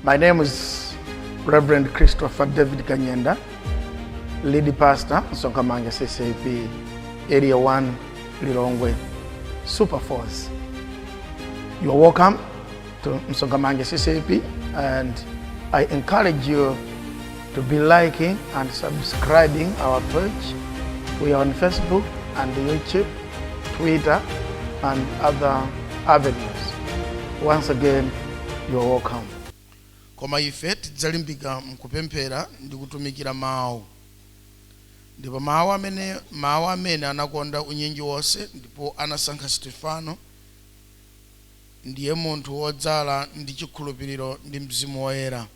My name is Reverend Christopher David Kanyenda, lead pastor, Sokamanga CCP, Area 1, Lilongwe, Super Force. You are welcome to Msogamange CCP and I encourage you to be liking and subscribing our page. We are on Facebook and YouTube, Twitter, and other avenues. Once again, you are welcome. koma ife tidzalimbika mkupemphera ndi kutumikira mawu ndipo mawu amene anakonda unyinji wonse ndipo anasankha stefano ndiye munthu wodzala ndi chikhulupiriro ndi mzimu woyera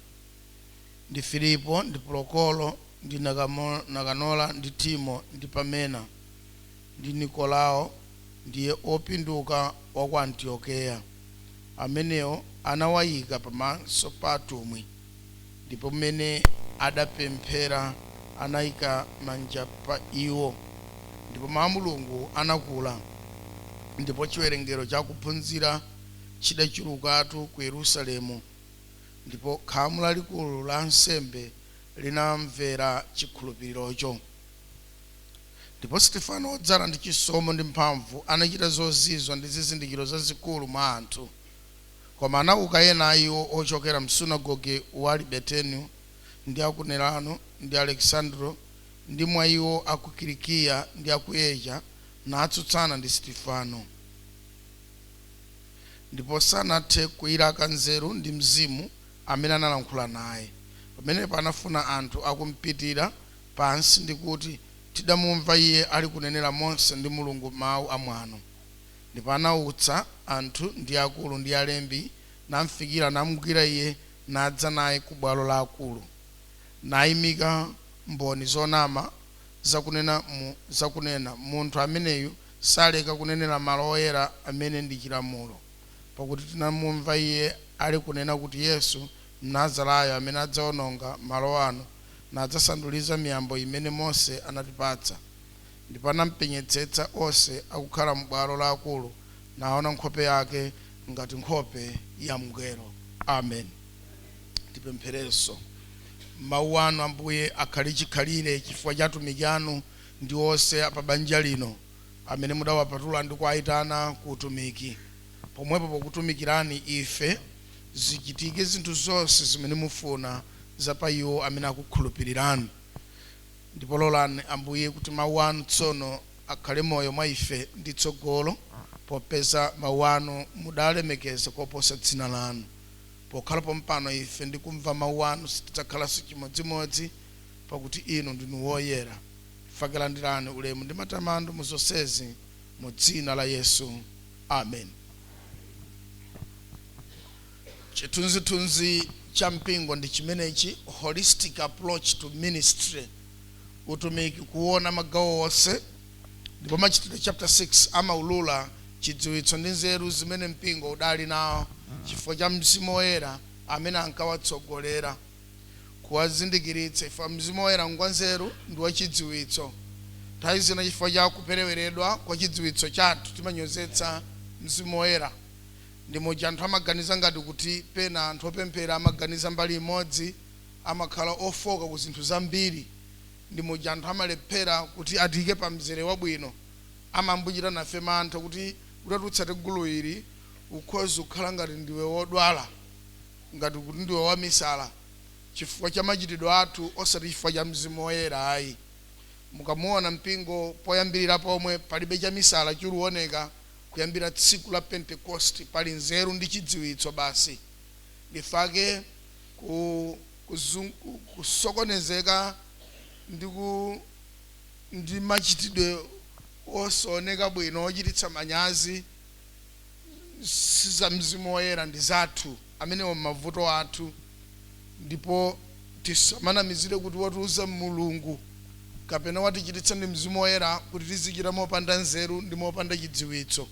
ndi Filipo, ndi Prokoro, ndi Nakanora, ndi Timo, ndi Pamena, ndi Nikolao, ndiye opinduka wa ku Antiokeya, amenewo anawayika pamaso pa atumwi, ndipo m'mene adapemphera, anayika manja pa iwo, ndipo mawu a Mulungu anakula, ndipo chiwerengero cha akuphunzira chidachulukatu ku Yerusalemu, ndipo khamu lalikulu la ansembe linamvera chikhulupirirocho. Ndipo Sitefano, wodzala ndi chisomo ndi mphamvu, anachita zozizwa ndi zizindikiro zazikulu mwa anthu. Koma anauka ena a iwo ochokera m'sunagoge wa Alibertino, ndi a ku Nerano, ndi Alekisandro, ndi mwa iwo a ku Kilikiya ndi a ku Asia, natsutsana ndi Sitefano. ndipo sanathe kuilaka nzeru ndi Mzimu amene analankhula naye. Pamenepo anafuna anthu akumpitira pansi ndi kuti, Tidamumva iye alikunenera Mose ndi Mulungu mau amwano. Ndipo anautsa anthu ndi akulu ndi alembi, namfikira, namgwira iye, nadza naye ku bwalo la akulu, naimika mboni zonama zakunena, zakunena, Munthu ameneyu Saleka kunenera malo oyera amene ndi chilamulo, pakuti tinamumva iye alikunena kuti Yesu Mnazarayo amene adzaononga malo ano, nadzasanduliza miyambo imene Mose anatipatsa. Ndipo anampenyetsetsa onse akukhala m'bwalo la akulu, naona nkhope yake ngati nkhope ya mngelo. Amen. Tipempherenso. Mau anu, Ambuye, akhale chikhalire chifukwa cha atumiki anu, ndi onse pa banja lino amene mudawapatula ndi kuwaitana ku utumiki, pomwepo pokutumikirani ife, zichitike zinthu zonse zimene mufuna za pa iwo amene akukhulupirirani. Ndipo lolani, Ambuye, kuti mawu anu tsono akhale moyo mwa ife ndi tsogolo, popeza mawu anu mudaalemekeza koposa dzina lanu. Pokhala pompano ife ndi kumva mawu anu sitidzakhalanso chimodzimodzi. pakuti inu ndinu woyera, nchifake landirani ulemu ndi matamando mu zonsezi, mu dzina la Yesu. Amen. Chithunzithunzi cha mpingo ndi chimenechi, holistic approach to ministry, utumiki kuona magawo onse, ndipo Machitidwe chapter 6 amaulula chidziwitso ndi nzeru zimene mpingo udali nawo chifukwa cha Mzimu Woyera amene ankawatsogolera. kuwazindikiritsa chifukwa Mzimu Woyera ngwanzeru ndi wachidziwitso. Nthawi zina chifukwa cha kupereweredwa kwa chidziwitso chathu timanyozetsa Mzimu Woyera. Ndi muja anthu amaganiza ngati kuti pena anthu opemphera amaganiza mbali imodzi, amakhala ofooka ku zinthu zambiri. Ndi muja anthu amalephera kuti atiike pa mzere wabwino. Amangochita nafe mantha kuti utatsata gulu ili ukhoza kukhala ngati ndiwe wodwala. ngati kuti ndiwe wamisala chifukwa cha machitidwe athu osati chifukwa cha Mzimu Woyera ayi. Mukamuona mpingo poyambirira pomwe palibe chamisala chikuoneka kuyambira tsiku la Pentekosti pali nzeru ndi chidziwitso basi. Ndifake kusokonezeka ndi machitidwe osaoneka bwino ochititsa manyazi. siza mzimu woyera ndi zathu amenewo mmavuto athu ndipo tisamanamizire kuti watiuza mulungu kapena watichititsa ndi mzimu woyera kuti tizichita mopanda nzeru ndi mopanda chidziwitso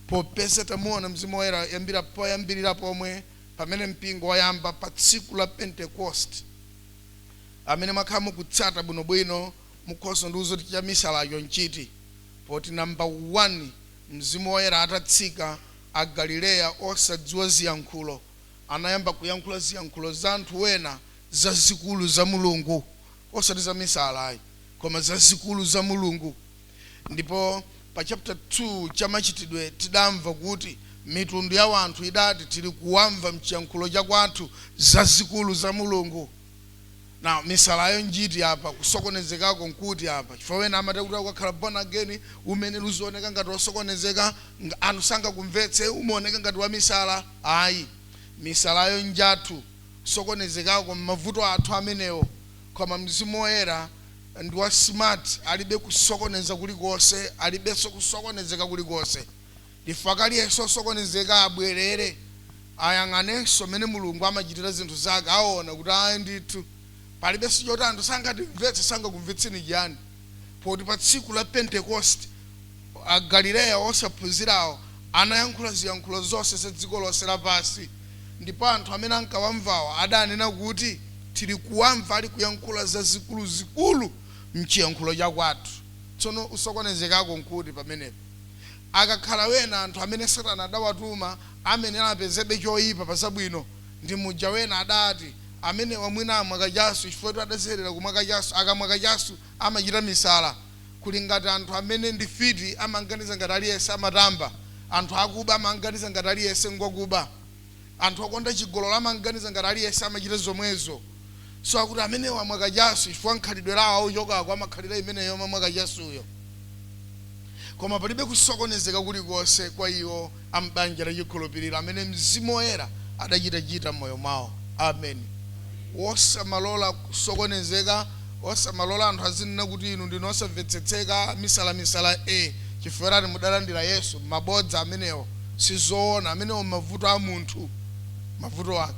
popeza tamuona mzimu woyera poyambirira pomwe pamene mpingo wayamba pa tsiku la pentecost amene mwakhala mukutsata bwinobwino mukhoza ndiuza kuti chamisalacho nchiti poti namba 1 Mzimu Woyera atatsika, Agalileya osadziwa ziyankhulo anayamba kuyankhula ziyankhulo za anthu wena zazikulu za Mulungu, osati za misala ayi, koma zazikulu za Mulungu. Ndipo pa chapter 2 cha Machitidwe tidamva kuti mitundu ya wanthu idati tili kuwamva mchiyankhulo chakwathu zazikulu za Mulungu. Na misalayo njiti apa kusokonezekako nkuti apa chifukwa wena amati kuti ukakhala born again umayenera uzioneka ngati wosokonezeka anthu sangakumvetse umaoneka ngati wamisala ayi misalayo njathu kusokonezekako mavuto athu amenewo koma mzimu woyera ndi wa smart alibe kusokoneza kulikonse alibenso kusokonezeka kulikonse Chifukwa aliyense osokonezeka abwelere ayang'anenso mmene Mulungu amachitira zinthu zake aona kuti ayi ndithu palibenso choti anthu sangatimvetse, sangakumvetseni chiyani poti pa tsiku la Pentekosti Agalileya osaphunzirawo anayankhula ziyankhulo zonse za dziko lonse lapansi ndipo anthu amene ankawamvawo adanena kuti tili kuwamva ali kuyankhula zazikuluzikulu mchiyankhulo chakwathu. Tsono usokonezekako nkuti pamenepa? Akakhala wena anthu amene satana adawatuma amenera apezebe choipa pa zabwino ndi muja wena adati amenewa mwina amwa kachasu chifukwatu adazolowera kumwa kachasu akamwa kachasu amachita misala kuli ngati anthu amene ndi fiti amanganiza ngati aliyense amatamba anthu akuba amanganiza ngati aliyense ngwakuba Anthu okonda chigololo amanganiza ngati aliyense amachita zomwezo so akuti amenewa amwa kachasu chifukwa mkhalidwe lawo ochokako amakhalira imeneyo yomamwa kachasuyo koma palibe kusokonezeka kulikonse kwa iwo a m'banja la chikhulupiriro amene Mzimu Woyera adachitachita m'moyo mwawo. Ameni. Osamalola kusokonezeka Osamalola anthu azinena kuti inu ndinu osamvetsetseka, amisala misala e chifukwa chiyani mudalandira Yesu? Mabodza amenewo sizoona amenewo mavuto a munthu mavuto ake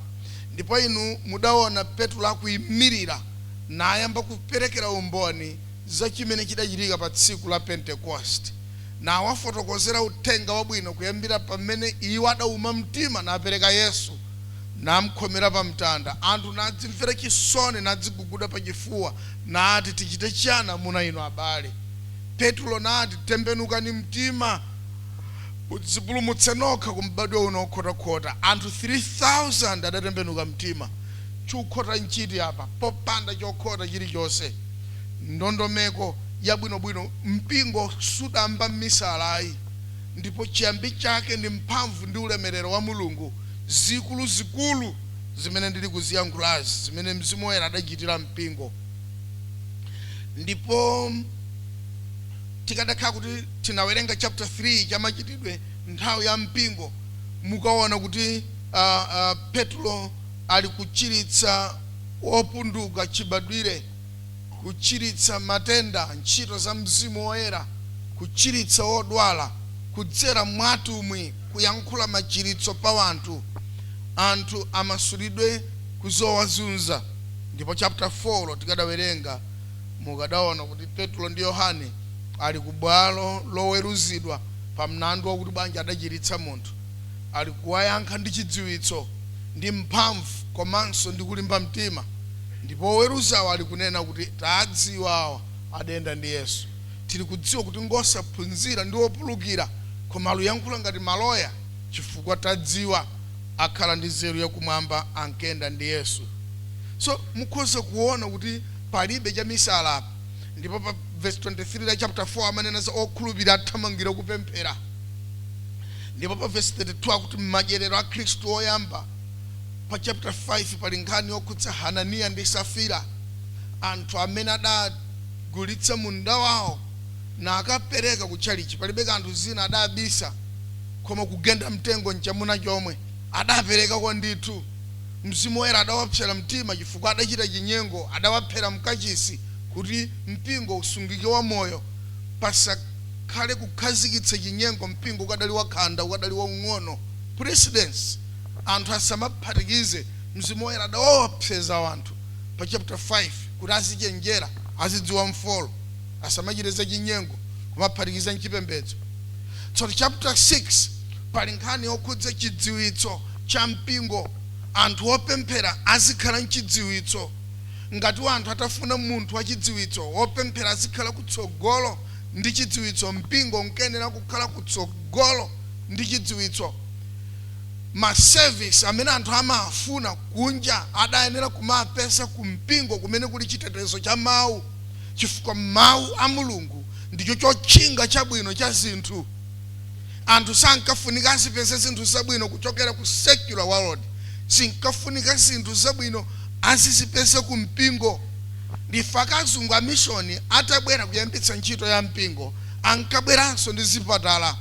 ndipo inu mudaona Petulo akuimilira nayamba kuperekera umboni za chimene chidachitika pa tsiku la Pentekosti nawafotokozera uthenga wabwino kuyambira pamene iwo adauma mtima napereka Yesu namkhomera pamtanda, anthu nadzimvera chisoni, nadziguguda pachifuwa, nati, Tichite chiyani, amuna inu, abale? Petulo nati, Tembenukani mtima, mudzipulumutse nokha ku m'badwo uno wokhotakhota. Anthu 3,000 adatembenuka mtima. Chokhota nchiti apa? Popanda chokhota chilichonse. Ndondomeko yabwinobwino. Mpingo sudayambe mmisala ayi. Ndipo chiyambi chake ndi mphamvu ndi ulemerero wa Mulungu. zikuluzikulu zimene ndiri kuziyankhulazi, zimene Mzimu Woyera adachitira mpingo, ndipo tikadakhala kuti tinawerenga chapter 3 cha Machitidwe nthawi ya mpingo, mukaona kuti a, a, Petro ali kuchiritsa wopunduka chibadwire. kuchiritsa matenda, ntchito za Mzimu Woyera, kuchiritsa wodwala, kudzera mwa atumwi kuyankhula machiritso pa wanthu, anthu amasulidwe ku zowazunza. Ndipo chapter 4 tikadawerenga, mukadaona kuti Petro ndi Yohane ali ku bwalo loweruzidwa pa mlandu wakuti bwanji adachiritsa munthu, ali kuwayankha ndi chidziwitso, ndi mphamvu komanso ndi kulimba mtima. Ndipo oweruzawo ali kunena kuti, Tadziwa awa adayenda ndi Yesu. Tili kudziwa kuti ngosaphunzira ndi opulukira, koma aluyankhula ngati maloya, chifukwa tadziwa akhala ndi nzeru ya kumwamba ankenda ndi Yesu. So, mukhoza kuona kuti palibe cha misala apa. Ndipo pa vesi 23 la chapter 4 amanena za okhulupira athamangira kupemphera. Ndipo pa vesi 32 akuti madyerero a akhristu oyamba. Pa chapter 5 pali nkhani yokhudza Hananiya ndi Safira, anthu amene adagulitsa munda wawo nakapereka ku tchalitchi. Palibe kanthu zina adabisa, koma kugenda mtengo nchamuna chomwe, adaperekako ndithu. Mzimu Woyera adawapsera mtima chifukwa adachita chinyengo, adawaphera m'kachisi kuti mpingo usungike wamoyo, pasakhale kukhazikitsa chinyengo mpingo ukadali wakhanda, ukadali waung'ono. Precedence. anthu asamaphatikize Mzimu Woyera adawaopseza anthu pa chapter 5 kuti azichenjera, azidziwa mfolo, asamachite zachinyengo, kumaphatikiza m'chipembedzo. Tsono chapter 6 pali nkhani yokhudza chidziwitso cha mpingo, anthu opemphera azikhala n'chidziwitso. Ngati wanthu atafuna munthu wachidziwitso, wopemphera azikhala kutsogolo ndi chidziwitso, mpingo unkayenera kukhala kutsogolo ndi chidziwitso. ma service amene anthu amaafuna kunja adayenera kumaapeza ku mpingo kumene kuli chitetezo cha mau chifukwa mau a Mulungu ndicho chotchinga chabwino cha zinthu. Anthu sankafunika azipeza zinthu zabwino kuchokera ku secular world, zinkafunika zinthu zabwino azizipeza ku mpingo. Ndi chifukwa chake azungu amishoni atabwera kuyambitsa ntchito ya mpingo, ankabweranso ndi zipatala.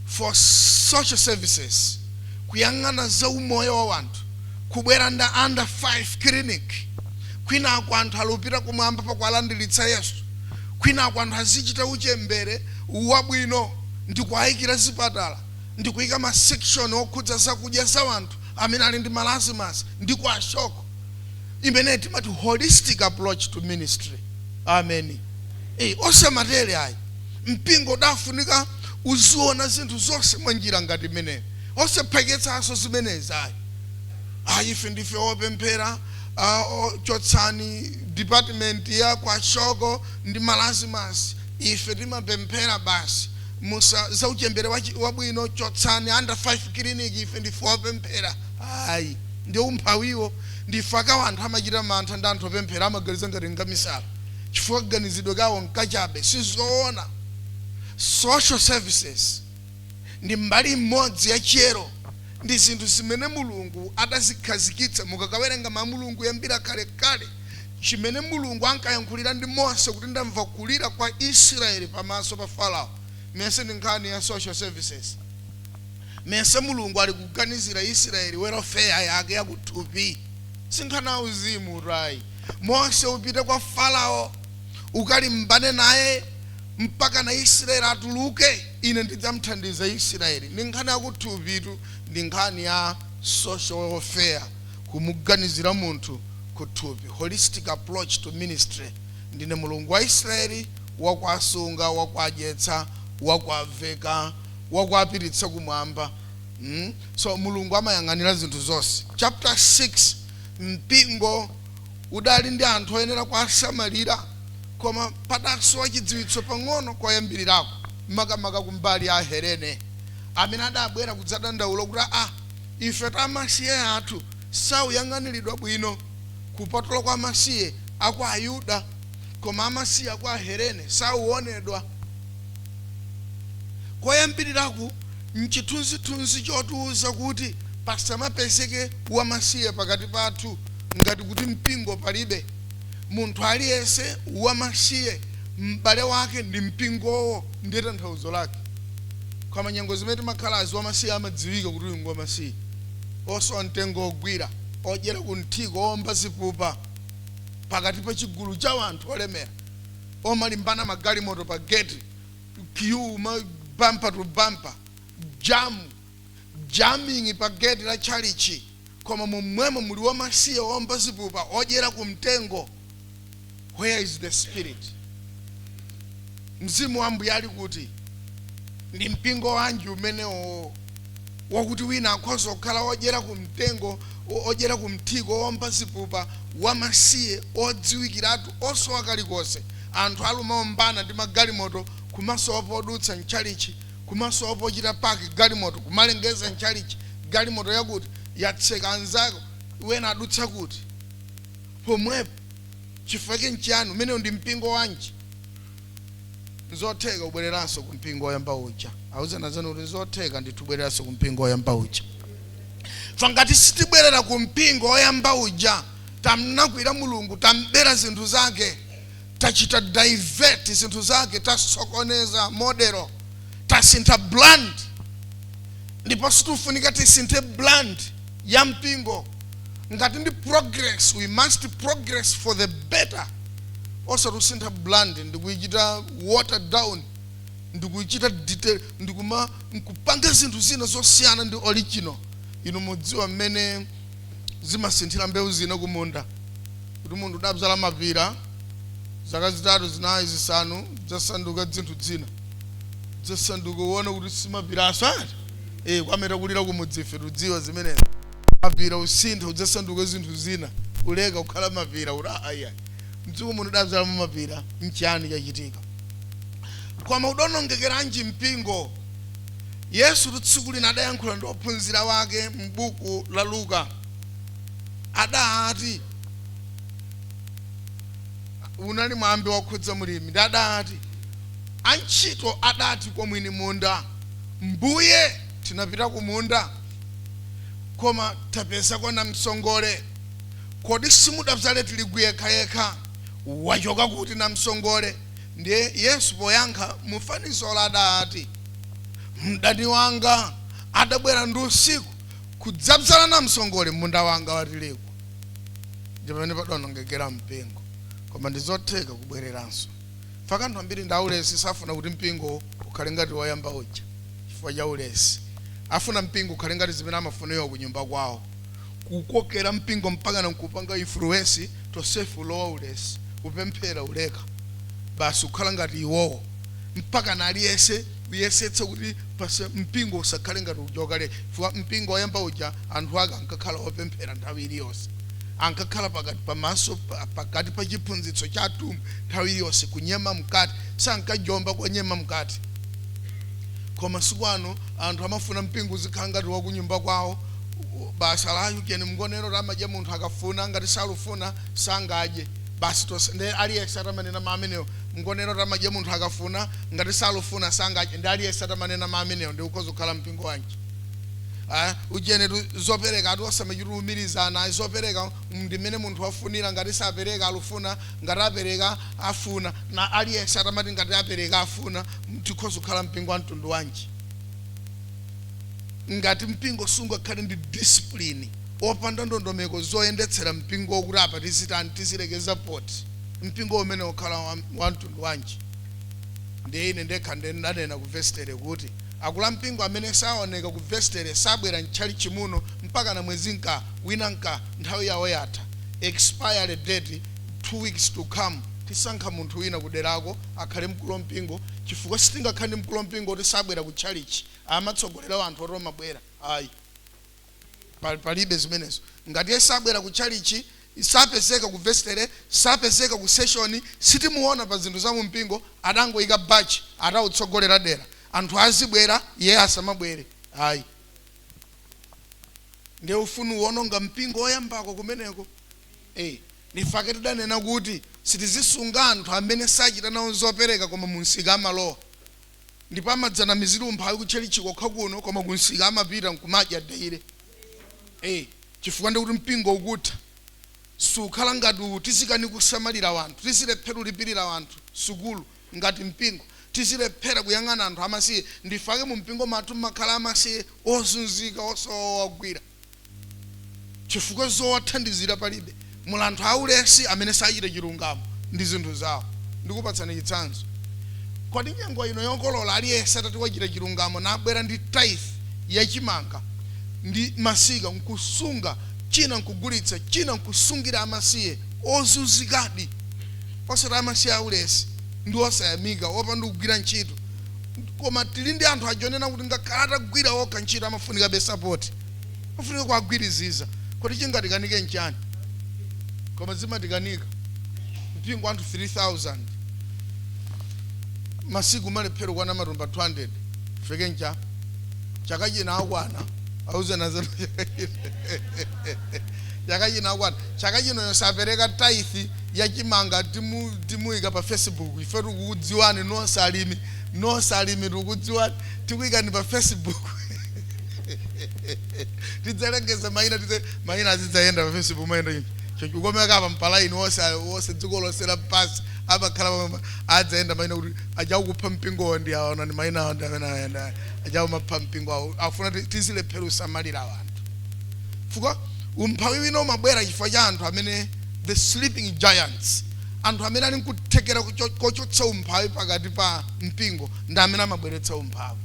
for social services kuyang'ana za umoyo wa wanthu kubwera ndi under 5 clinic kwinako anthu alupita kumwamba pakuwalandiritsa yesu kwinako anthu azichita uchembere wabwino ndikuayikira zipatala ndikuyika ma section okhudza zakudya za wanthu amene ali ndi marasmus ndi kwashiorkor imene timati holistic approach to ministry amen, osamatele ayi Mpingo udafunika uziona zinthu zonse mwa njira ngati imeneyo, osaphweketsanso zimenezi ayi. Ah, ife ndife opemphera, ah, oh, chotsani department ya kwashiorkor ndi marasmus, ife timapemphera basi. Musa, za uchembere wa chi- wabwino chotsani, under 5 clinic, ife ndife opemphera. Ayi, ndi umphawiwo. Ndi chifukwa chake wanthu amachita mantha ndi anthu opemphera, amaganiza ngati ngamisala. chifukwa kaganizidwe kawo nkachabe. Sizoona. Social services ndi mbali imodzi ya chiyero ndi zinthu zimene Mulungu adazikhazikitsa. Mukakawerenga Mau a Mulungu kuyambira kalekale, chimene Mulungu ankayankhulira ndi Mose kuti ndamva kulira kwa Israel pamaso pa Farao, mesa ndi nkhani ya social services? Mesa Mulungu ali kuganizira Israel welfare yake ya kuthupi? Sinkhani ya uzimutu ayi. Mose, upite kwa Farao ukalimbane naye mpakana Israeli atuluke, ine ndidzamthandiza Israeli. Ndi nkhani yakuthupitu, ndi nkhani ya social welfare, kumuganizira munthu kuthupi, holistic approach to ministry. Ndine Mulungu wa Israeli, wakuwasunga, wakuwadyetsa, wakuwaveka, wakuwapititsa kumwamba. Mm? So Mulungu amayang'anira zinthu zonse. Chapter 6 Mpingo udali ndi anthu oyenera kuwasamalira, koma padasowa chidziwitso pang'ono koyambirirako, makamaka ku mbali ya Ahelene, amene adabwera kudzadandaula kuti, Aa, ife ta amasiye athu sakuyang'aniridwa bwino kupatula kwa amasiye a kwa Ayuda, koma amasiye a kwa Ahelene sakuwonedwa. Koyambirirako Nchithunzithunzi chotiuza kuti pasamapezeke wamasiye pakati pathu ngati kuti mpingo palibe. Munthu aliyense wamasiye m'bale wake ndi mpingowo ndiye tanthauzo lake. Koma nyengo zimene timakhalazi wamasiye amadziwika kuti uyu ngwamasiye. Osowa mtengo wogwira, odyera kumthiko, oomba zipupa pakati pa chigulu cha anthu olemera, omalimbana magalimoto pa geti. queue ma bumper to bumper jam jamming pa gate la chalichi koma momwemo muli wamasiye omba zipupa odyera ku mtengo where is the spirit mzimu wa ambuye ali kuti ndi mpingo wanji umenewo wakuti wina akhoza kukhala wodyera kumtengo, wodyera kumthiko, womba zipupa, wamasiye, wodziwikiratu, wosowa kalikonse. Anthu alumaombana ndi magalimoto, kumasowa podutsa m'tchalitchi, kumasowa pochita park galimoto, kumalengeza m'tchalitchi, Galimoto yakuti yatseka anzawo wena adutsa kuti? pomwepo. Chifukwa chake nchiyani? Umenewo ndi mpingo wanji? nzotheka kubwereranso ku mpingo woyamba uja awuzeni anzanu kuti nzotheka ndithu kubwereranso ku mpingo woyamba uja fa ngati sitibwerera ku mpingo woyamba uja tamlakwira mulungu tambera zinthu zake tachita divert zinthu zake tasokoneza modelo tasintha brand ndipo sitikufunika tisinthe brand ya mpingo ngati ndi progress we must progress for the better osati usintha brand ndikuichita water down ndikuichita detail ndikuma nkupanga zinthu zina zosiyana ndi original inu mudziwa mmene zimasinthira mbewu zina kumunda kuti munthu udadzala mapira zaka zitatu zinayi zisanu zasanduka dzinthu dzina zasanduka uona kuti si mapiranso ati e kwa amene takulira kumudzife tudziwa zimenezi mapira usintha udzasanduka zinthu zina uleka kukhala mapira kuti aya m'dziko muno udabzala mapira nchiyani chachitika koma udonongekeranji mpingo yesu tsiku lina adayankhula ndi ophunzira ake m'buku la luka adati unali mwambi wokhudza mlimi ndi adati antchito adati kwa mwini munda Mbuye, tinapita kumunda, koma tapezako namsongole. Kodi simudabzale tirigu yekhayekha? Wachoka kuti namsongole? Ndiye Yesu poyankha mu fanizolo adati, Mdani wanga adabwera ndi usiku kudzabzala namsongole m'munda wanga wa tirigu. Ndi pamene padaonongekera mpingo. Koma ndi zotheka kubwereranso. Chifukwa anthu ambiri ndi aulesi safuna kuti mpingo ukhale ngati woyamba uja chifukwa cha ulesi. Afuna mpingo ukhale ngati zimene amafuna iwo kunyumba kwawo. Kuukokera mpingo mpakana nkuupanga influence tonsefe ulowa ulesi, kupemphera uleka. Basi kukhala ngati iwowo. Mpakana aliyense. uyesetsa kuti mpingo usakhale ngati uja wakale chifukwa mpingo woyamba uja anthu ake ankakhala opemphera nthawi iliyonse ankakhala pakati pamaso pa- pakati pa chiphunzitso cha atumwi nthawi iliyonse kunyema mkate sankajomba konyema mkate koma masiku ano anthu amafuna mpingo uzikhala ngati wakunyumba kwawo basi ujeni mgonero amadya munthu akafuna ngati salufuna sangadye basi tonse nde aliyese atamanena mau ameneo mgonero amadya munthu akafuna ngati salufuna sangadye nde aliyese atamanena mau ameneo nde ukhoza kukhala mpingo wanji Ah, ujeni tu zopereka ati osamachita umirizana ayi zopereka ndimene munthu wafunira ngati sapereka salufuna ngati apereka afuna na aliyese atamati ngati apereka afuna tikhoza kukhala mpingo wa mtundu wanji ngati mpingo sungakhale ndi discipline opanda ndondomeko zoyendetsera mpingowo kuti apa tizitani tizilekeza poti mpingo umenewo ukhala wa, wa mtundu wanji ndiye ine ndekha ndiye ndanena ku vestere kuti akulu a mpingo amene saoneka ku vestere sabwera mtchalichi muno mpakana mwezi nka wina nka nthawi yawo yatha expiry date two weeks to come tisankha munthu wina kuderako akhale mkulu wa mpingo chifukwa sitingakhale ndi mkulu wampingo oti sabwera ku tchalitchi, amatsogolera anthu oti amabwera, ayi, pa, palibe zimenezo. Ngati iye sabwera ku tchalitchi, sapezeka ku vesitere, sapezeka ku seshoni, sitimuona pa zinthu za mu mpingo, adangoika baji, atautsogolera dera, anthu azibwera, iye asamabwere, ayi. Ndiye ufunu uononga mpingo oyambako kumeneko, ee. Ndifake tidanena kuti sitizisunga anthu amene sachita nawo zopereka koma mumsika amalowa ndipo amadzanamizira umphawi kutchalitchi kokha kuno koma kumsika amapita nkumadya daily ee chifukwa ndi kuti mpingo ukutha sukhala ngati uwu tizikanika kusamalira wanthu tizilephera ulipirira wanthu sukulu ngati mpingo tizilephera kuyang'ana anthu amasiye ndifake mumpingo mathu mumakhala amasiye ozunzika osowa owagwira chifukwa zowathandizira palibe. Muli anthu aulesi amene sachita chilungamo ndi zinthu zawo. Ndikupatsani chitsanzo. Kodi nyengo ino yokolola aliyense atati wachita chilungamo nabwera ndi tithe ya chimanga ndi masika n'kusunga, china n'kugulitsa, china n'kusungira amasiye ozunzikadi, osati amasiye aulesi ndi osayamika opanda kugwira ntchito? koma tili ndi anthu ajonena kuti ngakhale atagwira okha ntchito amafunikabe sapoti amafunika kuwagwiriziza kodi chingatikanike nchani koma zimatikanika mpingo wa anthu 3000 masiku amalephera kukwana matumba 200 ifake mcha chaka china akwana auzeni anzanu chaka china akwana chaka chino yosapereka taithi ya chimanga timu timuika pa facebook ife tikukudziwani nonse alimi nonse alimi tikukudziwani tikuikani pa facebook tidzalengeza maina tidze maina azidzayenda pa facebook maina ino choncho ukomeka apa ndi pa laini wonse wonse dziko lonse lapansi amakhala pamwe adzayenda maina kuti aja akupha mpingowo ndi awa ndi maina awo ndi amene ayenda aja akumapha mpingo awo afuna ti- tizilephera usamalira wanthu chifukwa umphawi wina umabwera chifukwa cha anthu amene the sleeping giants anthu amene ali nkuthekera kochotsa umphawi pakati pa mpingo ndi amene amabweretsa umphawi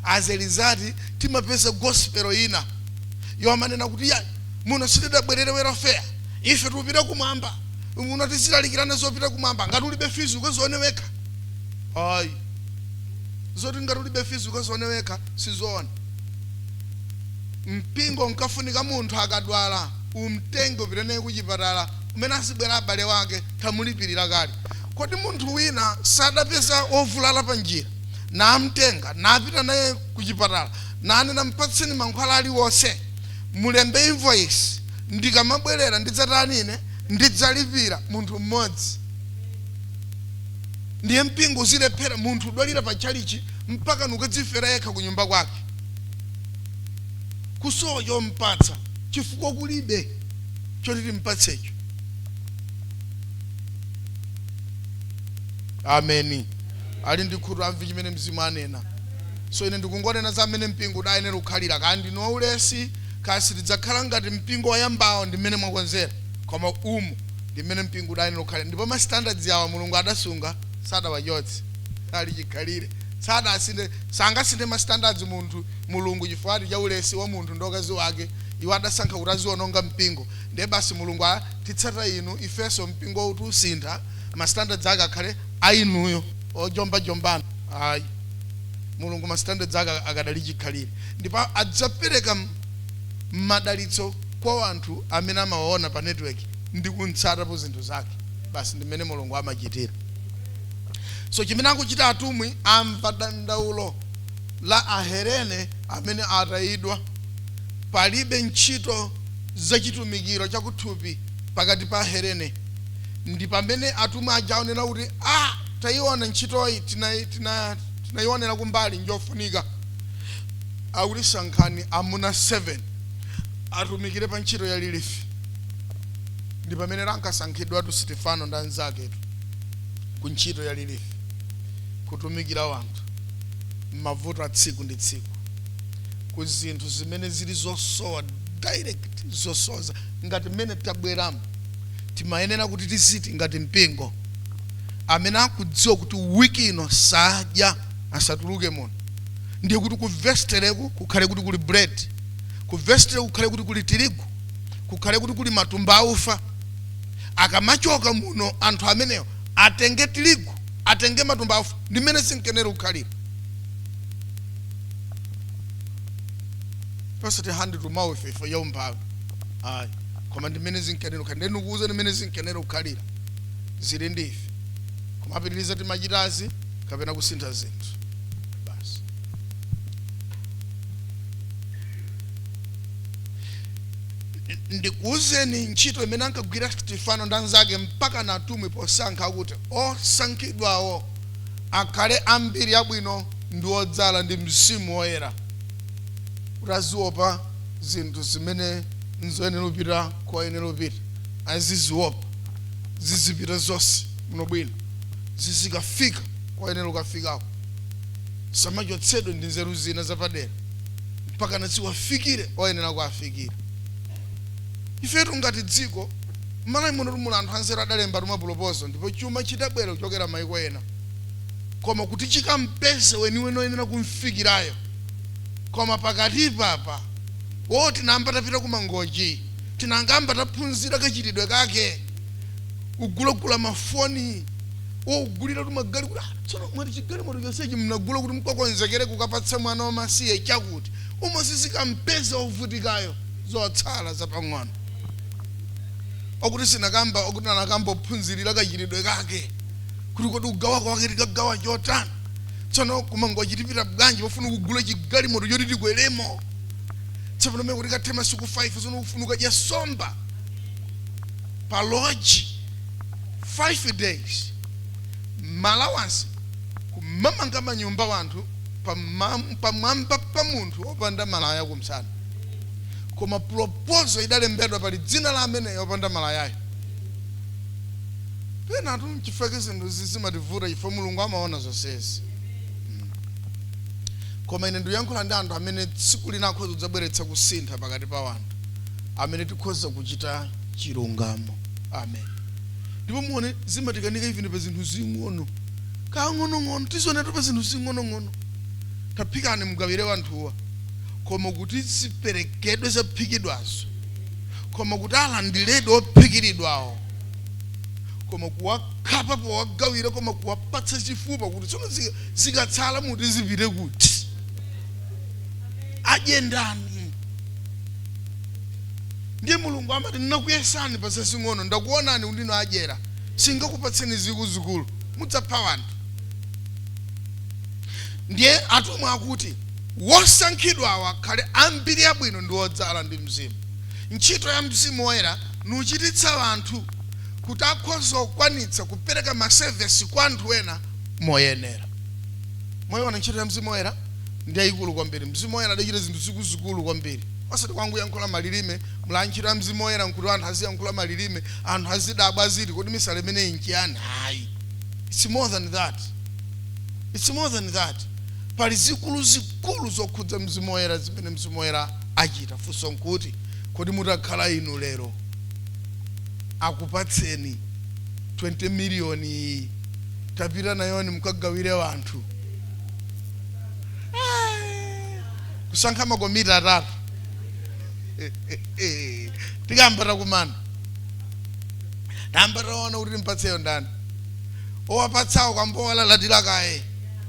as a result timapeza gospel ina yomanena kuti iyayi muno sitidabwerere welfare ife tikupita kumwamba muno tizilalikirana zopita kumwamba ngati ulibe fizi ukazione wekha ayi zoti ngati ulibe fizi ukazione wekha sizoona mpingo umafunika munthu akadwala umtenge upite naye kuchipatala mmene azibwera abale wake tamulipirira kale kodi munthu wina sadapeza wovulala pa njira namtenga napita naye kuchipatala nanena mpatseni mankhwala aliwonse mulembe invoice ndikamabwerera ndidzatani ine ndidzalipira munthu mmodzi ndiye mpingo uzilephera munthu udwalira pa tchalichi mpaka nukadzifera yekha ku nyumba kwake kusowa chompatsa chifukwa kulibe choti timpatsecho. Ameni. Ali ndi khutu amve chimene Mzimu anena. So ine ndikungonena za mmene mpingo udayenera kukhalira. Kaya ndinu waulesi, kaya sitidzakhala ngati mpingo woyambawo ndi mmene mwakonzera, koma umu ndi mmene mpingo udayenera kukhalira. Ndipo ma standards awo Mulungu adasunga, sadawachotse. Ali chikhalire. Sadasinthe, sangasinthe ma standards munthu Mulungu chifukwatu cha ulesi wa munthu ndi wakazi wake, iwo adasankha kuti aziwononga mpingo ndiye basi Mulungu a titsata inu ifenso mpingowu tiusintha ma standards ake akhale a inuyo ojomba jombanu ayi Mulungu ma standards ake akadali chikhalire ndipo adzapereka madalitso kwa wanthu amene amawaona pa network ndi kumtsatapo zinthu zake basi ndi mmene Mulungu amachitira so chimene akuchita atumwi amva dandaulo la Ahelene amene atayidwa. Palibe ntchito za chitumikiro chakuthupi pakati pa Ahelene. Ndi pamene atumwi aja aonera kuti, a, tayiona ntchitoyi, tinaionera kumbali, njofunika. Akuti, Sankhani amuna 7 atumikire pa ntchito ya lilifi. Ndi pamenetu ankasankhidwatu Stefano ndi anzaketu ku ntchito ya lilifi, kutumikira wanthu. m'mavuto a tsiku ndi tsiku, ku zinthu zimene zili zosowa direct zosowa za- ngati mmene tabweramo timayenera kuti tiziti ngati mpingo amene akudziwa kuti wiki ino sadya asatuluke muno ndiye kuti ku vestileku kukhale kuti kuli bread ku vestile kukhale kuti kuli tirigu kukhale kuti kuli matumba aufa akamachoka muno anthu ameneyo atenge tirigu atenge matumba aufa ndi mmene zinkenera kukhalira osati hand to mouth ifo ya umphawi ayi koma ndi mmene zinkenera kukhalira ndiye ndikuuza ndi mmene zinkenera kukhalira zili ndi ife kumapitiriza timachitazi kapena kusintha zinthu basi ndikuuzeni ntchito imene ankagwira stefano ndi anzake mpaka natumwi posankha kuti Osankhidwawo akhale a mbiri yabwino ndi odzala ndi Mzimu Woyera, kuti aziopa zinthu zimene nzoyenera kupita koyenera kupita, aziziopa, zizipita zonse bwino bwino, zizikafika koyenera kukafikako, zisamachotsedwe ndi nzeru zina zapadera, mpakana ziwafikire oyenera kuwafikira. Ifetu ngati dziko. M'Malawi munotu muli anthu anzeru adalemba tumapulopozal ndipo chuma chidabwera kuchokera maiko ena koma kuti chikampeze weniweni oyenera kumfikirayo koma pakatipa apa wo tinayamba tapita ku Mangochi tikayambe taphunzira kachitidwe kake kugulagula mafoni wo kugulira tumagalimoto ah, tsono mwati chigalimoto chonsechi mnagula kuti mkakonzekere kukapatsa mwana wamasiye chakuti umo sizikumpeza ovutikayo zotsala zapang'ono okuti sinakamba okuti anakamba ophunzirira kachitidwe kake kuti kodi kugawa kwake tikagawa chotani tsono ku Mangochi tipita bwanji pofuna kugula chigalimoto choti tikweremo tsopano mene kuti kathe masiku 5 tsono kufuna kukadya somba pa lodge 5 days maalawansi kumamanga manyumba wanthu pamwamba pa munthu opanda malaya kumsana koma proposal idalembedwa pali dzina la ameneyo opanda malayayo penatu mchifake zinthu zimativuta chifukwa mulungu amaona zonsezi Mm. koma ine ndikuyankhula ndi anthu amene tsiku lina akhoza kudzabweretsa kusintha pakati pa wanthu amene tikhoza kuchita chilungamo amen ndipo muone zimatikanika even pa zinthu zing'ono kang'onong'ono tizionetu pa zinthu zing'onong'ono taphikani mugawire wanthuwa koma kuti ziperekedwe zaphikidwazo, koma kuti alandiredi ophikiridwawo, koma kuwakhapa powagawira, koma kuwapatsa chifupa kuti tsono zi- zikatsala muti zipite kuti adye ndani ndiye mulungu amati ndinakuyesani pa zazing'ono ndakuonani kuti ndinu adyera singakupatseni zikuzikulu mudzapha wanthu ndiye atumwi akuti Wosankhidwawo akhale a mbiri yabwino ndi odzala ndi Mzimu, ntchito ya Mzimu Woyera, nuchititsa anthu kuti akhoze kukwanitsa kupereka masevesi kwa anthu ena moyenera. Mwayiona ntchito ya Mzimu Woyera ndi yayikulu kwambiri. Mzimu Woyera adachita zinthu zikuzikulu kwambiri. Osati kwangoyankhula malilime, muli ntchito ya Mzimu Woyera nkuti anthu aziyankhula malilime, anthu azidabwa aziti kodi misala imeneyi nchiyani? Ayi. It's more than that. It's more than that. pali zikuluzikulu zokhudza Mzimu Woyera zimene Mzimu Woyera achita. Funso nkuti, kodi mutakhala inu lero akupatseni 20 miliyoniyi tapita nayoni mukagawire anthu? Kusankha makomiti atatu tikayamba takumana tayamba taona kuti timpatseyo ndani owapatsawo kuyamba kuwalalatira kaye.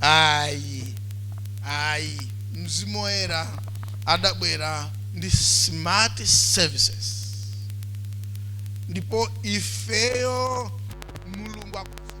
ayi ayi mzimu woyera adabwera ndi smart services ndipo ifeyo mulungu akuzipitiriza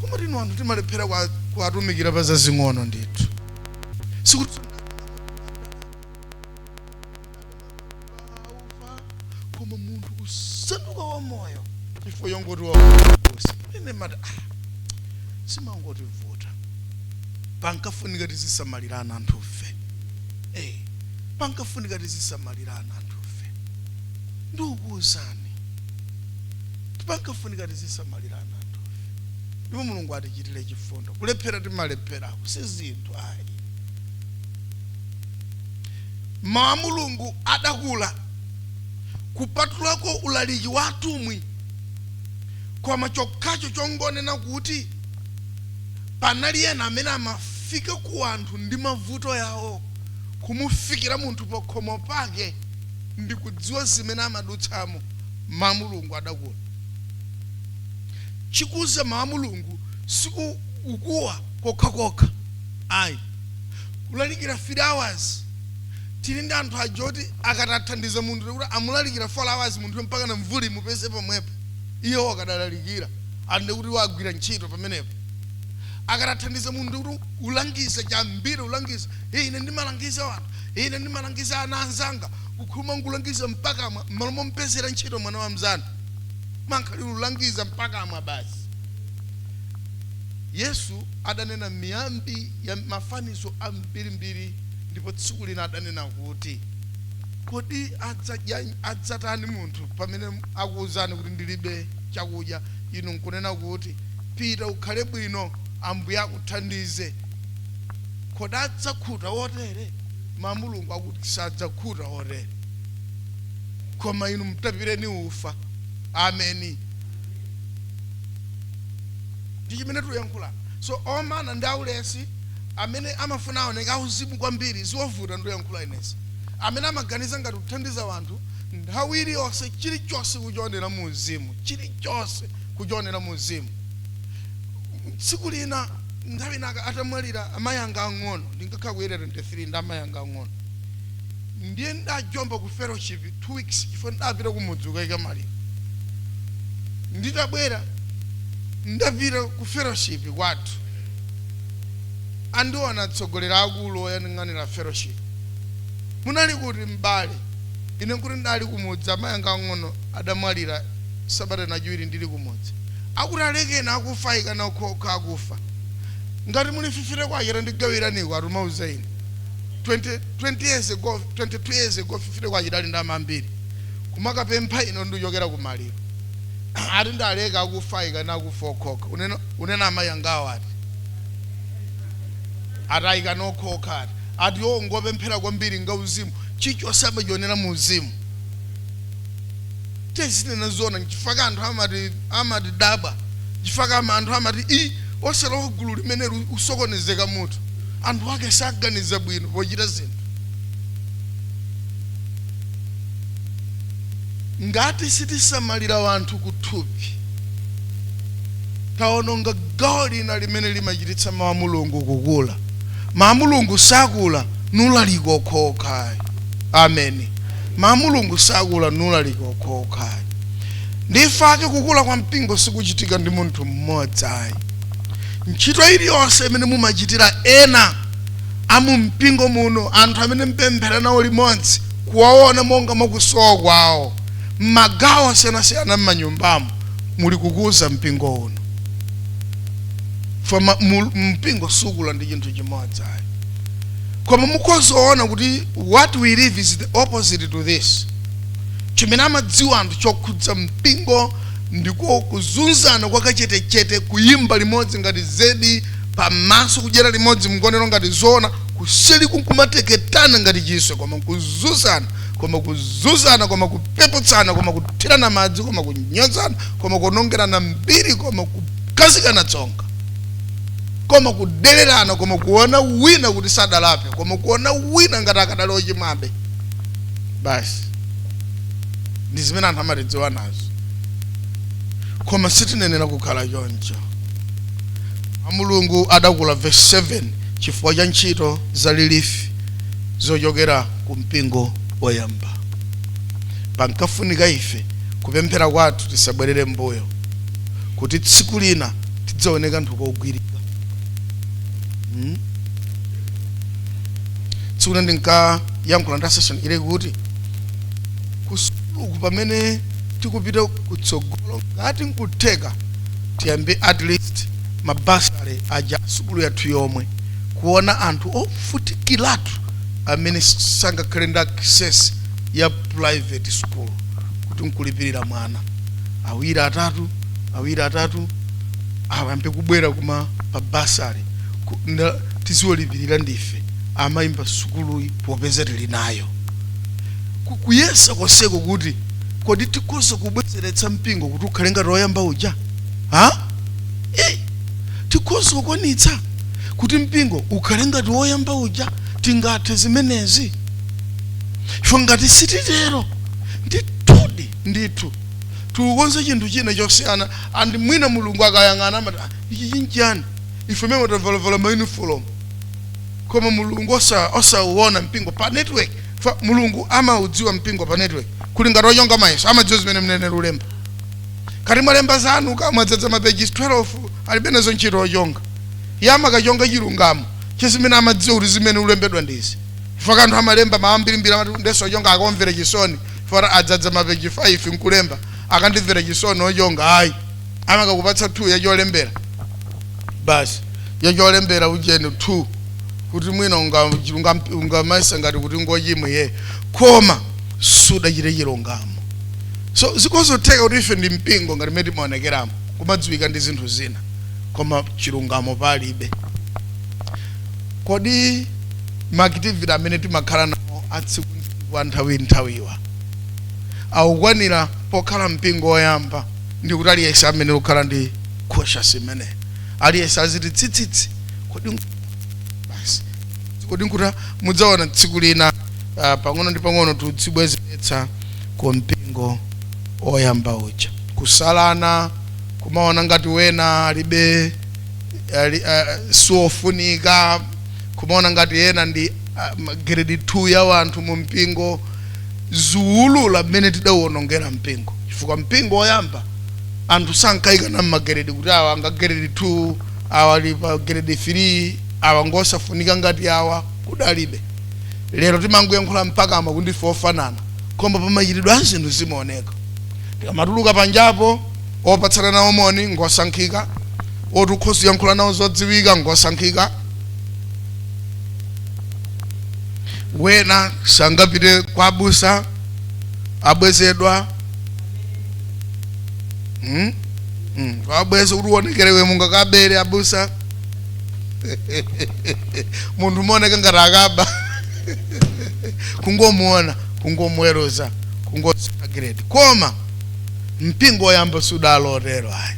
koma tina anthu timalephera kwa- kuwatumikira pa zazing'ono ndithu sikuti koma munthu kusanduka wa moyo chifukwa yongoti wakusi ine mati ah, simangoti vuta pankafunika tizisamalirana anthufe eh, pankafunika tizisamalirana kukhulupirana anthufe ndikukuwuzani pankafunika tizisamalirana anthufe ndipo mulungu atichitire chifundo kulephera timalepheraku si zinthu ayi mawu a mulungu adakula kupatulako ulaliki wa atumwi koma chokhacho chongonena kuti panali ena amene amafika ku anthu ndi mavuto yawo kumufikira munthu pakhomo pake ndikudziwa zimene amadutsamo mawu a mulungu adakula chikuza mawu a mulungu siku ukuwa kokha kokha ayi kulalikira 3 hours tili ndi anthu aja oti akati athandiza munthu nkuti amulalikira 4 hours munthu mpaka na mvuli mupeze pomwepo iwo akadalalikira ande kuti iwo agwira ntchito pamenepo akati athandiza munthu nkuti ulangiza chambiri ulangiza Ine ndimalangiza anthu, ine ndimalangiza ana anzanga, kukhuluma nkulangiza mpakamwa, m'malo mompezera ntchito mwana wa mzanu. Mankhalira ulangiza mpakamwa basi. Yesu adanena miyambi ya mafanizo ambirimbiri, ndipo tsiku lina adanena kuti, kodi adzatani munthu pamene akuwuzani kuti ndilibe chakudya, inu nkunena kuti, pita ukhale bwino, Ambuye akuthandize. kodi adzakhuta otere koma mulungu akuti sadzakhuta otere koma inu mtapireni ufa ameni ndi chimene tuyankhula so omana ndi aulesi amene amafuna aoneka auzimu kwambiri zovuta ndoyankhula inetu amene amaganiza ngati kuthandiza wanthu nthawi iliyonse chilichonse kuchionera mu uzimu chilichonse kuchionera mu uzimu tsiku lina nthawi ina aka- atamwalira amayi anga ang'ono ndinkakhala ku area 23 ndi amayi anga ang'ono ndiye ndajomba ku fellowship two weeks chifukwa ndapita kumudzi ukaika maliro nditabwera ndapita ku fellowship kwathu andiona atsogoleri akulu oyang'anira fellowship munali kuti m'bale ine kuti ndali kumudzi amayi anga ang'ono adamwalira sabata yachiwiri ndili kumudzi Akuti alekeni akufa ayikana okha okha akufa ngati muli 50 kwacha tandigawiraniko akumauza ine 20 20 years ago 22 years ago 50 kwacha idali ndalama zambiri kumakapempha ine ndikuchokera kumaliro ati ndileke akufa ayikana akufa okha okha unena unena amayi angawo ati ayikana okha okha ati ati iwo ngopemphera kwambiri ngauzimu chichonse amachionera mu uzimu tezinena zona nchifaka anthu amati amatidabwa nchifaka ama anthu amati i osalowa gulu limeneli usokonezeka mutu anthu ake saganiza bwino pochita zinthu ngati sitisamalira wanthu kuthupi taononga gawo lina limene limachititsa mawu a mulungu kukula mawu a mulungu sakula nulaliko okhaokha ayi ameni mawu a mulungu sakula nulaliko okhaokha ayi nchifake kukula kwa mpingo sikuchitika ndi munthu mmodzi ayi ntchito iliyonse imene mumachitira ena amu mpingo muno anthu amene mpemphera nawo limodzi kuwaona monga mwakusowa kwawo mmagawo osiyanasiyana mmanyumbamo muli kukuza mpingo uno foma mu- mpingo sukula ndi chinthu chimodzi ayi koma mukhoza kuona kuti what we live is the opposite to this chimene amadziwa anthu chokhudza mpingo ndiko kuzunzana kwakachetechete kuyimba limodzi ngati zedi pamaso kudyera limodzi mgonero ngati zoona kuseli nkumateketana ngati chiswe koma kuzunzana koma kuzunzana koma kupeputsana koma kuthirana madzi koma kunyozana koma kuonongerana mbiri koma kukhazikana tsonga koma kudelerana koma kuona wina kuti sadalape koma kuona wina ngati akadali ochimwabe basi ndi zimene anthu amatidziwa nazo koma sitinenera kukhala choncho a mulungu adalakhula verse 7 chifukwa cha ntchito za lilifi zochokera ku mpingo woyamba pankafunika ife kupemphera kwathu tisabwerere mbuyo kuti tsiku lina tidzaone kanthu kogwirika mm? tsiku lina ndinkayankhula ndi a session ine kuti kusukuluku pamene tikupita kutsogolo ngati nkutheka tiyambe at least ma bursary aja sukulu yathu yomwe kuona anthu ovutikiratu amene sangakhale ndi access ya private school kuti nkulipirira, mwana awiri atatu awiri atatu ayambe kubwera koma pa bursary ku- nda- tiziwalipirira ndife eni ake sukuluyi popeza tili nayo Ku- kuyesa konseko kuti kodi tikhoza kubwezeretsa mpingo kuti ukhale ngati woyamba uja ha Eh, tikhoza kukwanitsa kuti mpingo ukhale ngati woyamba uja tingathe zimenezi ife ngati sititero ndithudi ndithu tikukonza chinthu china chosiyana and mwina mulungu akayang'ana amati "Ah, ichi chinchiyani ife memo tavalavala maunifolomu koma mulungu osa- osauona mpingo pa network Fa- mulungu amaudziwa mpingo pa network zili ngati ochonga mayeso amadziwa zimene muyenera kulemba kaya mwalemba zanu kaya mwadzadza mapeji 12 alibe nazo ntchito ochonga iye amakachonga chilungamo cha zimene amadziwa kuti ziyenera kulembedwa ndizi chifukwa anthu amalemba zambirimbiri amati ndeso ochonga akamvere chisoni Poti ndadzadza mapeji 5 nkulemba akandimvera chisoni ochonga ayi amakakupatsa 2 yacholembera basi yacholembera ujeni 2 kuti mwina unga- unga- ungamayesa ngati kuti ngochimwa iye koma sudachite chilungamo so zikhoza kutheka kuti ife ndi mpingo ngati mmene timaonekeramo kumadziwika ndi zinthu zina koma chilungamo palibe kodi ma activity amene timakhala nawo atsiku wa nthawinthawiwa akukwanira pokhala mpingo woyamba ndi kuti aliyense ayenera kukhala ndi conscious imeneyi aliyense aziti tsitsitsi kodi nku- basi kodi nkuti mudzaona tsiku lina ah, pang'ono ndi pang'ono tizibwezeretsa ku mpingo woyamba uja kusalana kumaona ngati wina alibe ali, uh, siofunika kumaona ngati ena ndi a grade 2 ya wanthu mu mpingo ziulula mmene tidauonongera mpingo chifukwa mpingo woyamba anthu sankayikana mmageredi kuti awa nga geredi 2 awa ali pa geredi 3 awa ngosafunika ngati awa kudalibe lero timangoyankhula pakamwa kuti ndife ofanana koma pamachitidwe a zinthu zimaoneka tikamatuluka panjapo opatsana nawo moni ngosankhika otukhoza yankhula nawo zodziwika ngosankhika wena sangapite kwa abusa abwezedwa hmm? hmm. abweze kuti uonekere iwe mungakabere abusa munthu umaoneka ngati akaba kungomuona kungomuweruza kungosagiredi koma mpingo woyamba sudali otero ayi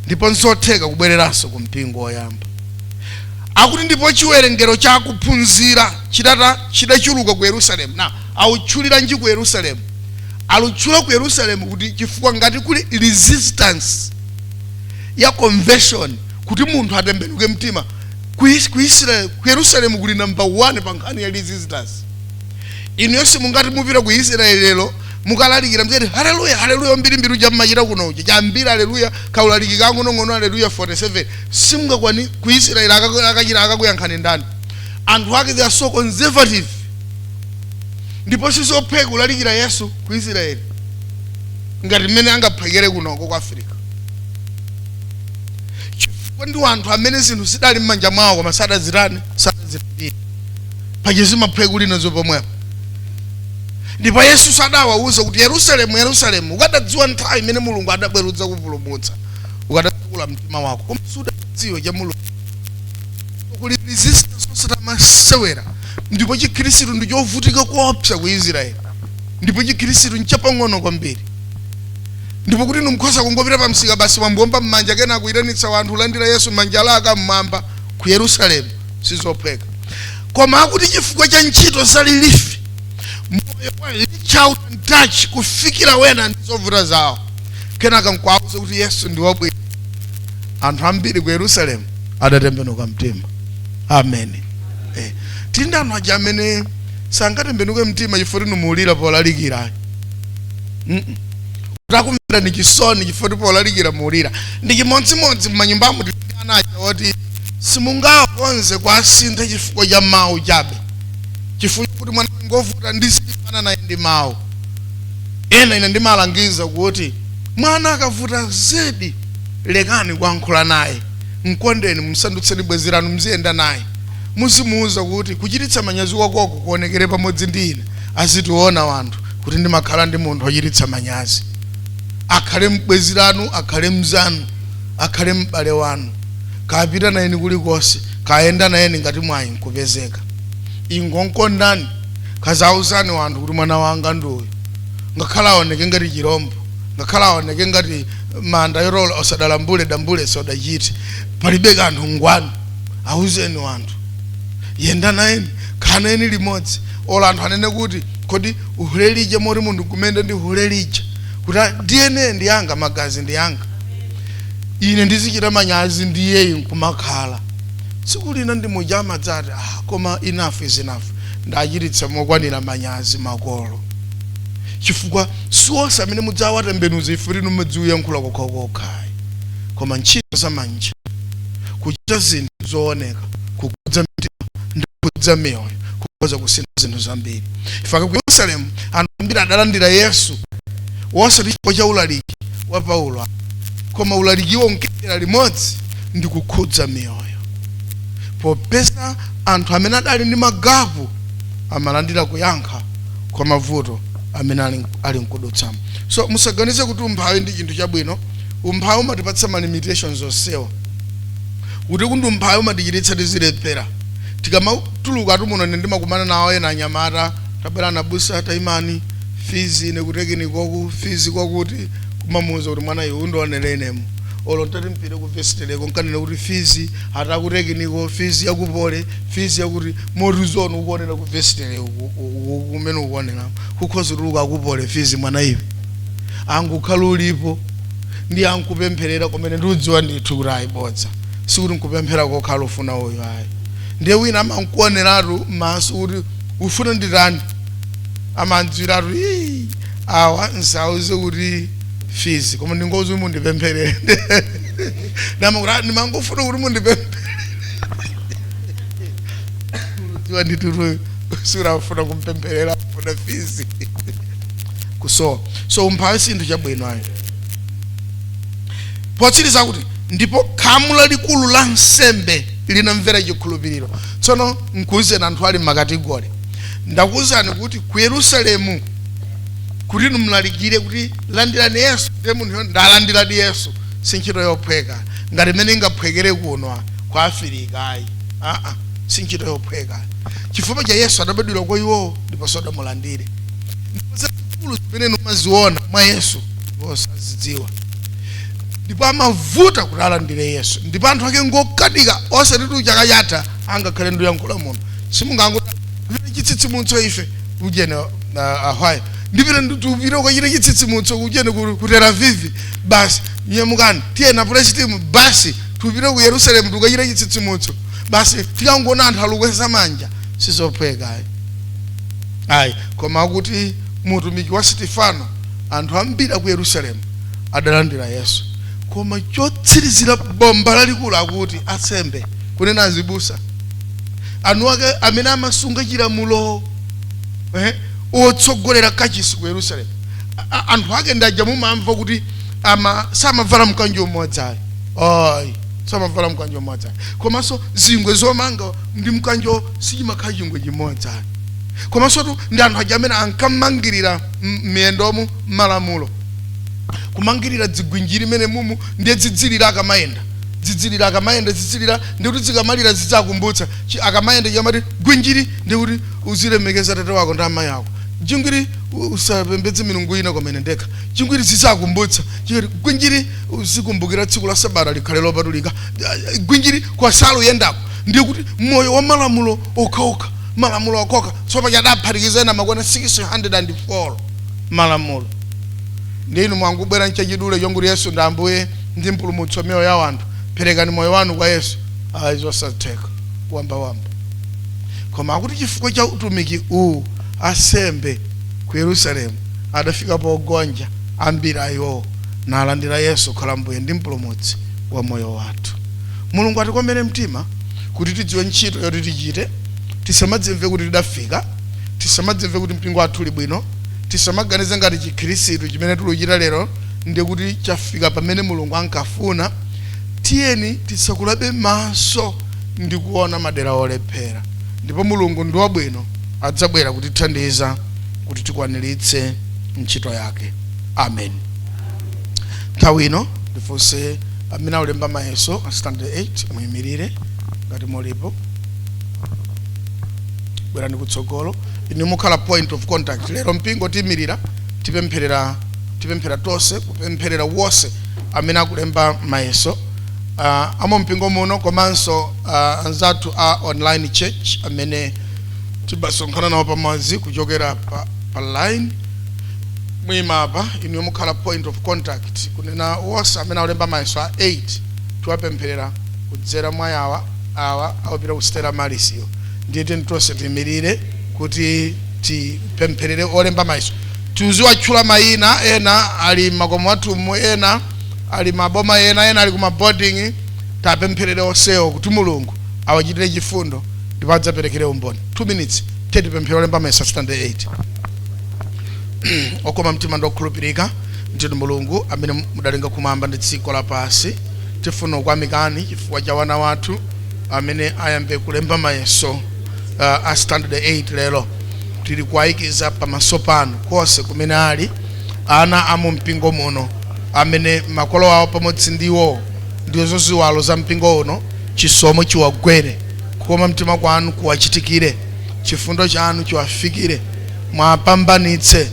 ndipo nzotheka kubwereranso ku mpingo woyamba akuti ndipo chiwerengero cha akuphunzira chida- chidachuluka ku yerusalemu nanga akutchuliranji ku yerusalemu akutchula ku yerusalemu kuti chifukwa ngati kuli resistance ya conversion kuti munthu atembenuke mtima ku Is- ku israel ku yerusalemu kuli number 1 pa nkhani ya resistance inu yonse mungati mupite ku israeli lero mukalalikira mziti haleluya haleluya mbirimbiri uja mmachita kuno uja chambiri haleluya kaulaliki kang'onong'ono haleluya 47 simungakwane ku israel akaku- aka- akakuyankhani ndani anthu ake they are so conservative ndipo sizophweka kulalikira yesu ku israel ngati mmene angaphwekere kunoko ku africa chifukwa ndi wanthu amene zinthu zidali m'manja mwawo koma sadazitani sadazilandire paja zimaphweka kulinazo pomwepo ndipo yesu sadawawuza kuti yerusalemu yerusalemu ukadadziwa nthawi imene mulungu adabwera kudzakupulumutsa ukadatsekula mtima wako koma sudadziwe za mulungu kuli resistance osati yamasewera ndipo chikhristu ndi chovutika kuopsa ku israeli ndipo chikhristu nchapang'ono kwambiri ndipo kuti ndingakhoze kungopita pa msika basi wayamba kuomba m'manja kenaka kuyitanitsa wanthu landira yesu manja ali mmwamba ku yerusalemu sizophweka koma akuti chifukwa cha ntchito za relief moyo wa reach out and touch kufikira wena ndi zovuta zawo kenaka nkwauza kuti yesu ndi wabwino anthu ambiri ku yerusalemu adatembenuka mtima amen eh. tili ndi anthu aja amene sangatembenuke mtima chifukwa timalira polalikira Mm-mm. takumvera ni chisoni chifukwa ti polalikira mumalira ndi chimodzimodzi mmanyumbamo tili ndi ana aja oti simungakonze kwasintha chifukwa cha mawu chabe chifukwa kuti mwana ngovuta ndi silimbana naye ndi mawu ena ine ndimalangiza kuti mwana akavuta zedi lekani kuyankhula naye mkondeni msandutseni bwenzi lanu mziyenda naye muzimuwuza kuti kuchititsa manyazi kwakoko kuonekere pamodzi ndi ine azitiona wanthu kuti ndimakhala ndi munthu wochititsa manyazi akhale mbwenzi lanu akhale mzanu akhale m'bale wanu kapita nayeni kulikonse kayenda nayeni ngati mwayi nkupezeka ingonkondani kaziauzani wanthu kuti mwana wanga ndi uyu ngakhale aoneke ngati chirombo ngakhale aoneke ngati manda yorola osadalambule dambule sodachite palibe kanthu ngwanu auzeni wanthu yenda nayeni khalani limodzi olo anthu anene kuti kodi hule lija moti munthu kumayenda ndi hule lija kuti "Ah, dna ndi yanga magazi ndi yanga ine ndizichita manyazi ndiye nkumakhala tsiku lina ndi muja amadzati ah, koma enough is enough ndachititsa mokwanira manyazi makolo chifukwa si onse amene mudzawatembenuza ife tino muziwayankhula kokhakokhayi koma ntchito za manja kuchita zinthu zooneka kukhudza mtima ndi kukhudza miyoyo kukhoza kusintha zinthu zambiri ifike ku yerusalemu anthu ambiri adalandira yesu wosati chifukwa cha ulaliki wa paulo koma ulalikiwo unkayendera limodzi ndi kukhudza miyoyo popeza anthu amene adali ndi magapu amalandira kuyankha kwa mavuto amene ali nkudutsamo so musaganize kuti umphawi ndi chinthu chabwino umphawi umatipatsa ma limitations onsewa kuti kundu umphawi umatichititsa tizilephera tikamatuluka mu tu muno ine ndimakumana nawo ena anyamata tabwerani abusa taimani fees ine ku technical fees yakuti kumamuuza kuti mwana iwe undionere inemu olo nditati mpite ku vestry ko nkanene kuti fees yaku technical fees yaku poly fees yakuti morizoni ukuonera ku vestry kumene ukuonera kukhoza kutuluka yaku poly fees mwana iwe angukhala ulipo ndi akukupempherera kumene ndikudziwa ndithu kuti ayi bodza sikuti nkupemphera kokhala ufuna uyu ayi ndiye wina amankuoneratu m'maso kuti ufuna nditani amandziwiratu awa nsauze kuti fees koma ndingoti mundipempherere ndiye amati "Ah, ndimangofuna kuti mundipempherere udziwa ndithu sikuti afuna kumpempherera afuna fees kusowa so umphawi si chinthu chabwino ayi potsiriza kuti ndipo khamu lalikulu la ansembe linamvera chikhulupiriro tsono nkuuzeni anthu ali m'makategori ndakuuzani kuti ku yerusalemu kuti numlalikire kuti landirani yesu ndi munthuyo ndalandiradi yesu si ntchito yophweka ngati imene ingaphwekere kuno kwa afirika ayi aa si ntchito yophweka chifukwa cha yesu adabadwira kwa iwowo ndipo sadamulandire ndipo zazikulu zimene mumaziona mwa yesu iwo sazidziwa ndipo amavuta kuti alandire yesu ndipo anthu ake ngokanika osatitu chaka chatha angakhale nduyankhula muno simungangoti chitsitsimutso ife ujene uh, ahwayo ndipita ndikupita kukachita chitsitsimutso kujene ku ku Tel Aviv basi nyamukani tiye na praise team basi tipite ku Yerusalemu tikachite chitsitsimutso basi tikangoona anthu alukweza manja sizophweka ayi ayi koma akuti utumiki wa Stefano anthu ambiri aku Yerusalemu adalandira Yesu koma chotsirizira bomba lalikulu akuti asembe kunena azibusa anthu ake amene amasunga chilamulo eh, otsogolera kachisi ku yerusalemu A- a- anthu ake ndi aja mumamva kuti ama samavala mkanjo umodzi ayi ayi samavala mkanjo umodzi ayi komanso zingwe zomanga ndi mkanjo sichimakhala chingwe chimodzi ayi komansotu ndi anthu aja amene ankamangirira m- miyendomu malamulo kumangirira dzigwinjiri mmene mumu ndiye dzidzilira akamayenda dzidzilira akamayenda dzidzilira ndi kuti dzikamalira zidzakumbutsa chi akamayenda chikamati gwinjiri ndi kuti uzilemekeza atate wako ndi amayi ako jingwiri u- usapembedze milungu ina koma ine ndekha jingwiri zidzakumbutsa chikati gwinjiri uzikumbukira tsiku la sabata likhale lopatulika Ah, gwinjiri kwa salu yendako ndi kuti moyo wa malamulo okhaokha malamulo okhaokha tsopano adaphatikiza ena nakwana 604 malamulo ndiye inu mwangobwera mchachidule chongoti yesu ndi ambuye ndi mpulumutsi wa miyoyo ya anthu perekani moyo wanu kwa yesu ayi zosatheka wambawamba koma akuti chifukwa cha utumiki uwu asembe ku yerusalemu adafika pogonja ambiri a iwowo nalandira yesu kukhala mbuye ndi mpulumutsi wa moyo wathu mulungu atikomere mtima kuti tidziwe ntchito yoti tichite tisamadzimve kuti tidafika tisamadzimve kuti mpingo wathu uli bwino tisamaganize ngati chikhirisitu chimene tikuchita lero ndiye kuti chafika pamene mulungu ankafuna tiyeni titsekulebe maso ndi kuona madera olephera ndipo mulungu ndi wabwino adzabwera kutithandiza kuti tikwaniritse ntchito yake amen nthawi ino ndifunse amene aulemba mayeso a standard 8 muyimirire ngati mulipo bwerani kutsogolo inu mukhala point of contact lero mpingo tiyimirira tipempherera tipemphere tonse kupempherera wonse amene akulemba mayeso uh, ama mpingo muno komanso uh, anzathu a online church amene timasonkhana nawo pamodzi kuchokera pa, pa line muima apa inu mukhala point of contact kunena wonse amene akulemba mayeso a 8 tiwapempherera kudzera mwa awa awa akupita ku Stella Maris iyo ndiye tiyeni tonse tiimirire kuti tipempherere olemba mayeso Tiziwatchula mayina, ena ali m'makomo mwathu umu, ena ali m'maboma ena, ena ali ku maboarding. Tiwapempherere onsewo kuti Mulungu awachitire chifundo ndipo adzaperekere umboni. 2 minutes. Tiyeni tipemphere olemba mayeso Standard 8. Okoma mtima ndi okhulupirika ndinu Mulungu amene mudalenga kumwamba ndi dziko lapansi. Tifuna kukuyamikani chifukwa cha wana wathu amene ayambe kulemba mayeso uh, a standard 8 lero tili kuwayikiza pamaso panu konse kumene ali, ana a mu mpingo muno, amene makolo awo pamodzi ndi iwowo ndizo ziwalo za mpingo uno, chisomo chiwagwere, kukoma mtima kwanu kuwachitikire, chifundo chanu chiwafikire, muwapambanitse,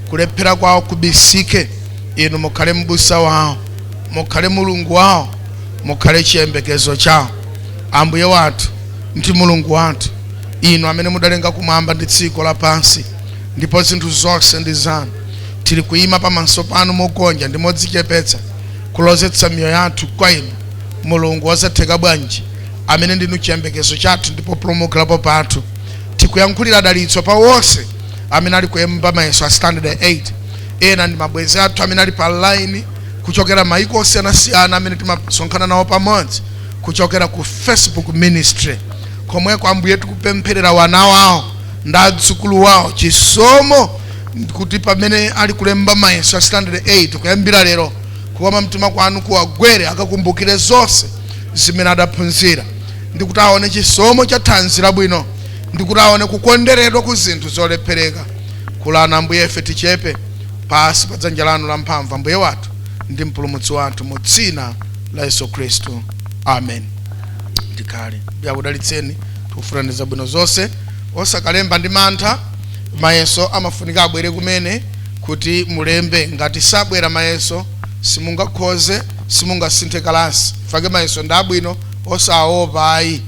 kulephera kwawo kubisike, inu mukhale m'busa wawo, mukhale mulungu wawo, mukhale chiyembekezo chawo, ambuye wathu, ndi Mulungu wathu, Inu amene mudalenga kumwamba ndi dziko lapansi, ndipo zinthu zonse ndi zanu, tili kuima pamaso panu mogonja ndi modzichepetsa, kulozetsa miyoyo yathu kwa Inu, Mulungu wosatheka bwanji, amene ndinu chiyembekezo chathu ndi populumukirapo pathu. Tikuyankhulira dalitso pa wonse amene ali kulemba mayeso a standard 8 ena ndi mabwenzi athu amene ali pa line kuchokera maiko osiyanasiyana amene timasonkhana nawo pamodzi kuchokera ku Facebook ministry komweko ambuye tikupempherera wana wawo ndi adzukulu wawo chisomo kuti pamene ali kulemba mayeso a standard 8 kuyambira lero kukoma mtima kwanu kuwagwere akakumbukire zonse zimene adaphunzira ndi kuti aone chisomo cha thanzi labwino ndi kuti aone kukonderedwa ku zinthu zolephereka kulani ambuye ife tichepe pasi pa dzanja lanu la mphamvu ambuye wathu ndi mpulumutsi wathu mu dzina la yesu khristu amen tikhale ambuye akudalitseni tikufunirani zabwino zonse osakalemba ndi mantha mayeso amafunika abwere kumene kuti mulembe ngati sabwera mayeso simungakhoze simungasinthe kalasi n'chake mayeso ndi abwino osaopa ayi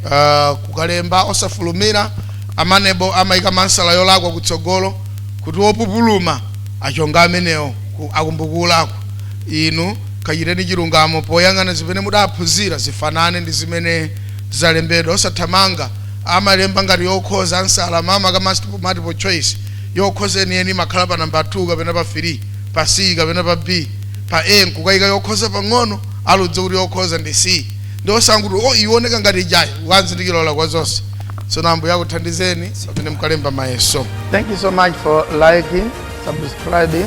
uh, kukalemba osafulumira a MANEB amayika maansala yolakwa kutsogolo kuti wopupuluma achonge amenewo ku- akumbukulako Inu kachiteni chilungamo poyang'ana zimene mudaphunzira zifanane ndi zimene zalembedwa. Osathamanga. Amalemba ngati yokhoza, ansala mmayeso a multiple choice. Yokhoza yeniyeni imakhala pa nambala 2 kapena pa 3, pa C kapena pa B. Pa A n'kukaika yokhoza pang'ono, aludze kuti yokhoza ndi C. Ndiye osangoti, oh, iyi ioneka ngati ijayi, ukanzindikira olakwa zonse. Tsono Ambuye akuthandizeni pamene mukalemba mayeso. Thank you so much for liking, subscribing.